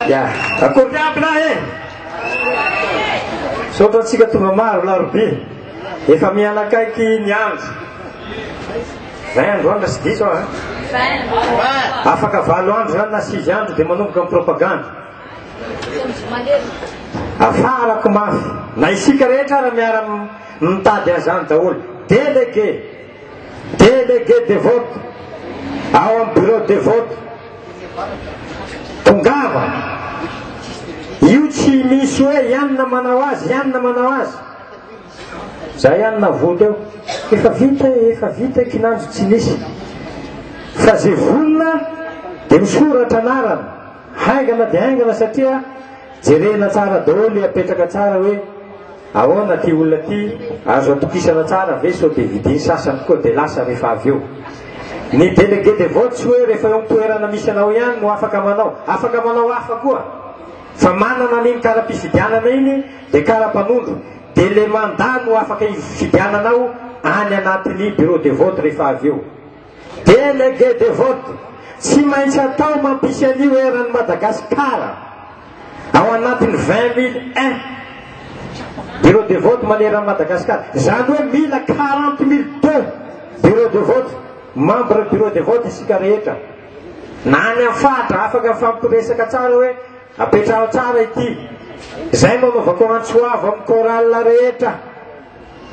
Ya, akory ny ampy lahy e! Misaotra antsika tonga maro larobia. Efa mihanakaiky ny andro. Vingt andro andro sy diso an. Afaka valo andro zany na sivy andro dia manomboka ny propagande. Afarako mafy. Na isika rehetra ara miara mitady an'izany daholo. Délégué. Délégué de vote ao amin'ny bureau de vote. Tongava. Io tsy misy hoe ianona manao azy, ianona manao azy. Zay ihany navoto eo. Efa vita, efa vita kinanjo tsy misy. Fa ze vonona dia misoratra anarana. Haingana dia haingana satria jerena tsara daholo apetraka tsara hoe Ahoana ty olona ty, azo atokisana tsara ve sao dia vidiny sasany koa dia lasa rehefa avy eo? Ny délégué de vote tsy hoe rehefa eo amin'ny toerana misy anao ihany no afaka manao, afaka manao hafa koa. Fa manana an'iny kara-pifidianana iny dia kara-panondro, dia le mandat no afaka hifidiananao any anatin'ny bureau de vote rehefa avy eo. Délégué de vote, tsy maintsy atao mampisy an'io eran'i Madagasikara ao anatin'ny vingt mille un bureau de vote maneran'i Madagasikara. Izany hoe mila quarante mille deux bureau de vote, membre bureau de vote isika rehetra. Na any amin'ny faritra afaka mifampiresaka tsara hoe apetraho tsara ity. Izay no anaovako antso avo amin'ny chorale rehetra.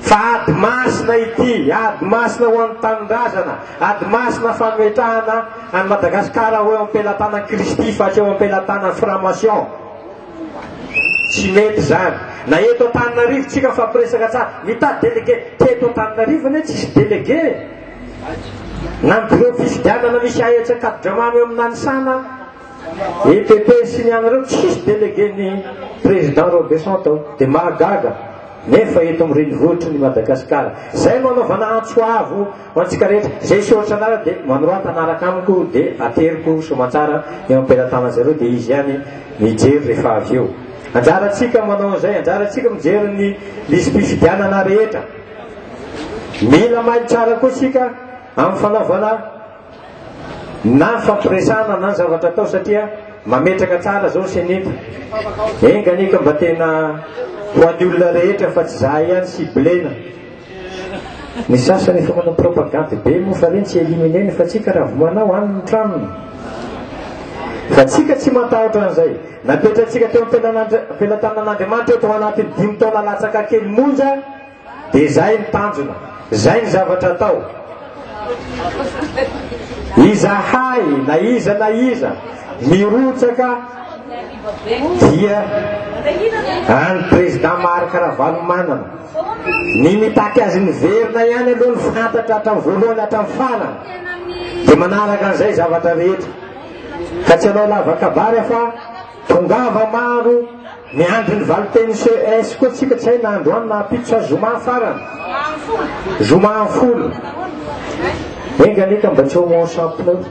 Fa ady masina ity, ady masina ho an'ny tanindrazana, ady masina fanoetrahana an'i Madagasikara ho eo am-pelatanan'i Kristy fa tsy eo am-pelatanan'ny franc-maçon. Tsy mety izany. Na eto Antananarivo tsika mifampiresaka tsara, mitady délégué. Teto Antananarivo anie tsisy délégué. Na ny bureau fifidianana misy aetsy Ankadidramamy eo amin'ny Nanisana, I PP sy ny anareo tsisy délégué ny président Robeson tao de mahagaga nefa eto am renivohitry ny Madagascar zay no anaovana antso avo ho antsika rehetra zay sy ohatra anareo de manorata anaraka amiko de ateriko somantsara eo am pelatanan zareo de izy ihany mijery rehefa avy eo anjaratsika manao anzay anjaratsika mijery ny lisy pifidianana rehetra mila mailo tsara koa sika am fanaovana na fampiresana na ny zavatra atao satria mametraka tsara zao ny senita enga anie ka mba tena ho an'ny olona rehetra fa tsy za ihany ciblena ny sasany efa manao propagande be moa fa reny tsy éliminer ny fa tsika raha vo manao any ny tranony fa tsika tsy matahotra an'izay napetratsika teo am-pelatanan'andriamanitra eto ho anatin'ny dimy taona latsaka kely monja Dia izay ny tanjona. Izay ny zavatra atao. Izahay, na iza na iza, mirotsaka dia any président Marc Ravalomanana. Ny mitaky azy miverina ihany aloha ny fantatra hatramin'ny voalohany hatramin'ny farany. Dia manaraka an'izay zavatra rehetra. Ka tsy hanao lava kabary aho fa Tongava maro, miandry ny valinteny CES koa tsika tsy hay na androany na ampitso sa zoma farany. Zoma folo. Enga anie ka mba tsy homonsant pneu.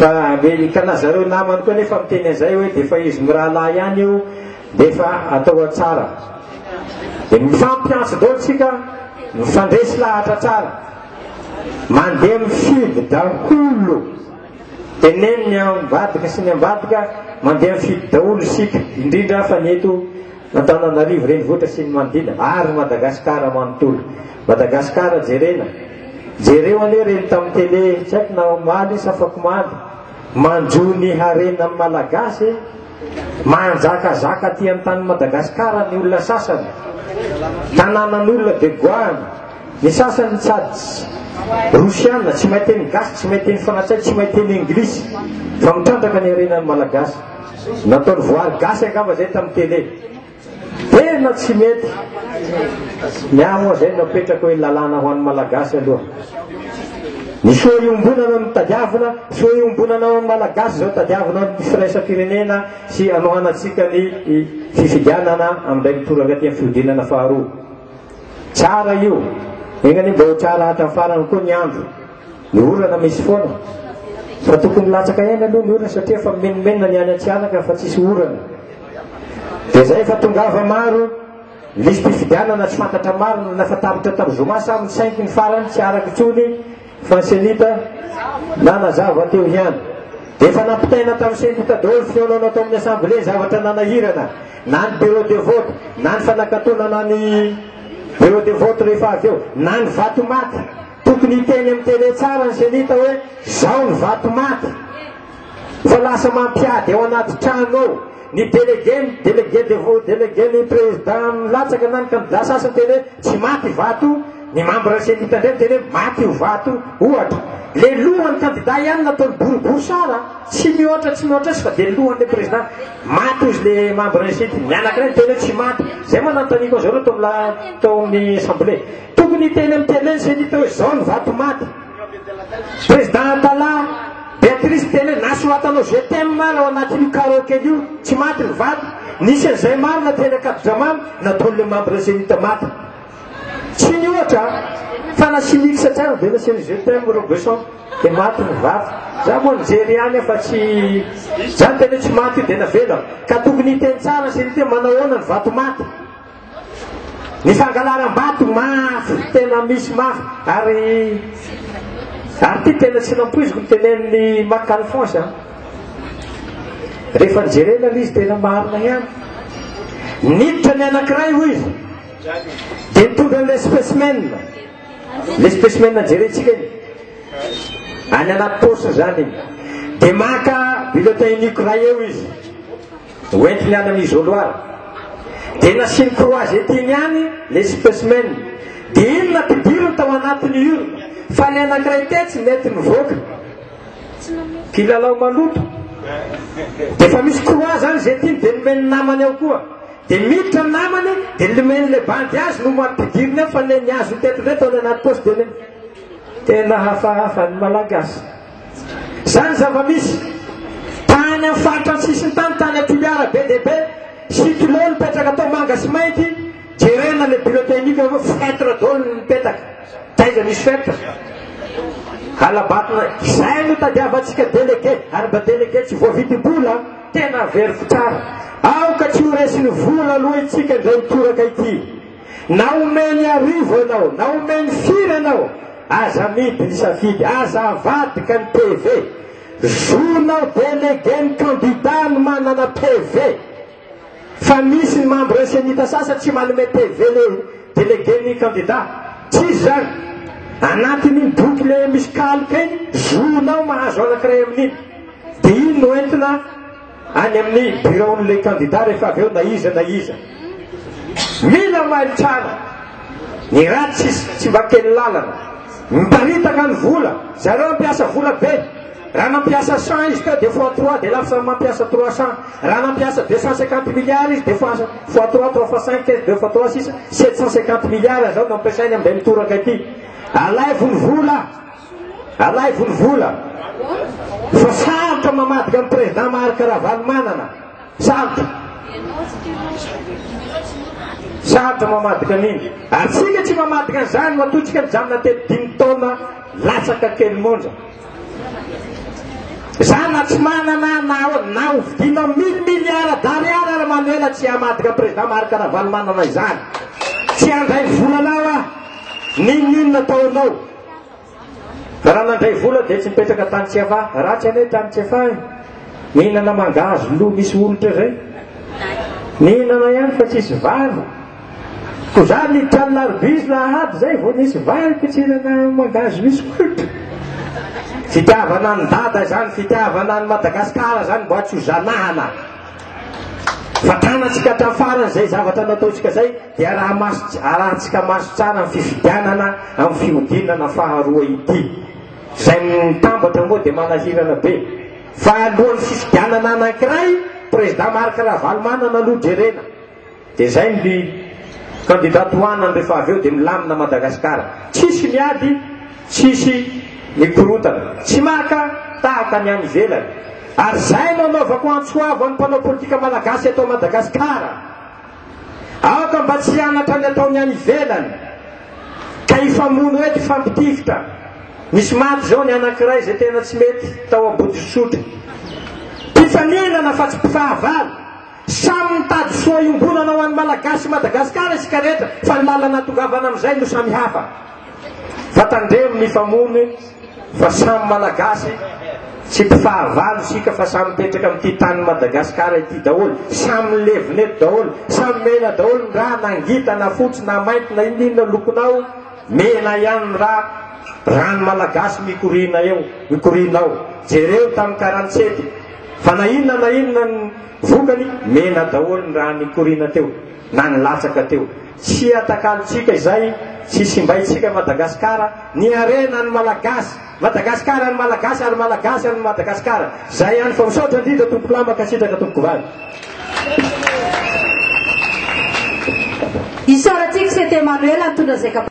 Fa amerikana zareo namany koa nefa miteny an'izay hoe dia efa izy mirahalahy ihany io dia efa atao tsara. Dia mifampiantso daholo tsika mifandresy lahatra tsara. Mandeha mifidy daholo. Teneno ny ambadika sy ny ambadika mandeha mifidy daholo isika, indrindra fa ny eto Antananarivo renivohitra sy ny manodidina ary Madagasikara manontolo. Madagasikara jerena. Jereo anie ireny tamin'ny tele tsy haiko na omaly sa afakomaly, manjo ny harenan'ny Malagasy, manjakazaka aty an-tanin'i Madagasikara ny olona sasany, tanànan'olona dia goahana. Ny sasany sady rosiana, tsy mahay teny gasy, tsy mahay teny frantsay, tsy mahay teny englisy, fa mitrandraka ny harenan'ny malagasy. Nataony voary gasy angamba zay tamin'ny télé. Tena tsy mety. Ny ahy moa zay napetraka hoe lalàna ho an'ny malagasy aloha. Ny soa iombonana no tadiavina, soa iombonana ao amin'ny malagasy zao tadiavina ny firaisam-pirenena sy anohanantsika ny fifidianana amin'ilay mitoraka aty amin'ny fihodinana faharoa. Tsara io! Enga anie mba ho tsara hatra ny farany koa ny andro. Ny orana misy foana. Fa tokony latsaka ihany aloha ny orana satria efa mimenomenona ny any Antsihanaka fa tsisy orana. Dia zay fa tongava maro listy fifidianana tsy fantatra marina na efa tapitra tam zoma sa misainky ny farany tsy araka intsony Franselita, nanazava teo ihany. Efa nampitaina tamin'ny sendika daholo fihaonana tao amin'ny Assemblée ny zavatra nanahirana, na ny bureau de vote, na ny fanakatonana ny bureau de vote rehefa avy eo, na ny vatomaty. Tokony hiteny amin'ny tele tsara ny senita hoe zao ny vatomaty. Fa lasa mampiady ao anaty trano ao. Ny délégué, ny délégué de vos délégué, ny président milatsaka na ny candidat sasany miteny hoe tsy maty i vato io, ny membre CENI-ta indray miteny hoe maty io vato io, ohatra. Le lohan'ny candidat ihany nataony boriborisara a, tsy mihoatra tsy mihoatra azy fa dia lohan'ilay président maty hozy le membre CENI, ny anankiray miteny hoe tsy maty, zay moa nanontaniako an'zareo tao amin'ny tao amin'ny assemblée. Tokony hiteny amin'ny télé ny CENI-ta hoe zao ny vato maty. Président Tala, Beatrice tena hoe nasoratanao je t'aime ary ao anatin'io karaoke io, tsy maty ny vato, nisy an'izay maro na teny Ankadidramamy na Dole membre Zenith maty. Tsy ny ohatra fa na sy mix tsara be na serie je t'aime Robeson dia maty ny vato. Za moa nijery ihany aho fa tsy zany tena hoe tsy maty io dia navela. Ka tokony hiteny tsara sy ny te manao ahoana ny vato maty. Ny fangalaram-bato mafy, tena misy mafy, ary ary ity tena tsy nampoiziko ny tenenin'i Marc Alphonse an. Rehefa nijerena ilay izy tena marina ihany. Niditra ny anankiray hoy izy. Dia nitondra ilay specimen. Ilay specimen jerentsika iny. Any anaty paosy izany iny. Dia maka bulletin unique iray eo izy. hoentiny any am isoloir dia nasiany croisette-ny ihany le specmen dia iny nampidiriny tao anatiny urne fa ny anakiray tetsy nety nivoaka kilalao maloto dia efa misy croix zany zay tiny dia nomeny namany ao koa dia miditra ny namany dia nomeny le bandy azy no mampidiriny ao fa le ny azo teto indray tao any anaty poste dia tena hafahafa ny malagasy Izany ny zava-misy. Tany amin'ny faritra sisin-tany, tany Toliara be dia be, sy Tuleo nipetraka tao Manga sy Mainty, jerena ilay bureau technique avy eo, feutre daholo ny mipetaka. Taiza misy feutre? Halabatona. Izay no tadiavantsika délégué, ary mba délégué tsy voavidim-bola, tena averiko tsara. Aoka tsy ho resin'ny vola aloha itsika indray mitoraka ity. Na omeny arivo ianao, na omeny firy ianao, aza amidy ny safidy, aza avadika ny PV. Zonao délégué ny candidat no manana PV. Fa misy ny membre Cenita sasany tsy manome PV le délégué ny candidat. Tsisy izany. Anatin'iny boky le misy kaloka iny, zonao mahazo anankiray amin'iny. Dia iny no entina. any amin'ny biraon'ilay kandida rehefa avy eo na iza na iza mila mailo tsara ny ratsy izy tsy mba kely lalana miparitaka ny vola zareo ampiasa vola be raha nampiasa cent izy teo dia fois trois dia lafo samy mampiasa trois cent raha nampiasa deux cent cinquante milliards izy dia fois fois trois trois fois cinq quinze deux fois trois six sept cent cinquante milliards zao nampiasainy am'izay mitoraka ity alaivo ny vola Alaivo ny vola fa sarotra mamadika an'i président Marc Ravalomanana. Sarotra. Sarotra mamadika an'iny. Ary tsika tsy mamadika an'izany matoa tsika mijanona teto dimy taona latsaka kely monja. Za na tsy manana na na hovidiana mille milliards d'ariary ary Manuela tsy hamadika président Marc Ravalomanana izany. Tsy handray volanao aho. N'inon'inona ataonao. Raha nandray vola dia tsy mipetraka tany tsy afa, ratsy anie tany tsy afa e. Mihinana mangahazo lo misy olitra zay. Mihinana ihany fa tsisy vary. Ko za ny trano larbizy lahady zay vao nisy vary pitsinana mangahazo misy olitra. Fitiavana ny dada izany, fitiavana ny Madagasikara izany mba tsy ho zanahana. Vatanantsika hatramin'ny farany izay zavatra nataontsika izay dia araha-maso arahantsika maso tsara amin'ny fifidianana amin'ny fihodinana faharoa ity. Izay mitambatra moa dia manahirana be. Fa alohan'ny fifidianana anankiray, Président Marc Ravalomanana aloha jerena. Dia zay ny Candidat tohanany rehefa avy eo dia milamina Madagascar. Tsisy miady, tsisy mikorotana. Tsy maka tahaka ny any ivelany. Ary zay no anaovako antso avo any mpanao politika Malagasy eto Madagascar. Aoka mba tsy hianatra ny ataony any ivelany. Ka hifamono eto hifampitifitra. Nisy maty zao ny anakiray zay tena tsy mety tao Ambodisotry. Mpifaninana fa tsy mpifahavalo. Samy mitady soa iombonana ho an'ny Malagasy sy Madagasikara isika rehetra fa ny lalana hatongavana amin'izay no samy hafa. Fa tandremo ny famono fa samy Malagasy, tsy mpifahavalo isika fa samy mipetraka amin'ity tanin'i Madagasikara ity daholo, samy milevina eto daholo, samy mena daholo ny rà na ngita na fotsy na mainty na inona inona lokonao, mena ihany ny rà, ràn'ny Malagasy mikoriana eo, mikoriana ao. Jereo tamin'ny karantsety. Fa na inona na inona ny vokany, mena daholo ny raha nikoriana teo, na nilatsaka teo. Tsy atakalontsika izay, tsy simbaintsika an'i Madagasikara, ny harena an'ny Malagasy! Madagasikara an'ny Malagasy ary Malagasy an'ny Madagasikara! Izay ihany fa misaotra indrindra Tompoko Lahy, mankasitraka Tompoko Vavy. Isaorantsika Sete Emmanuel nitondra izay kapa.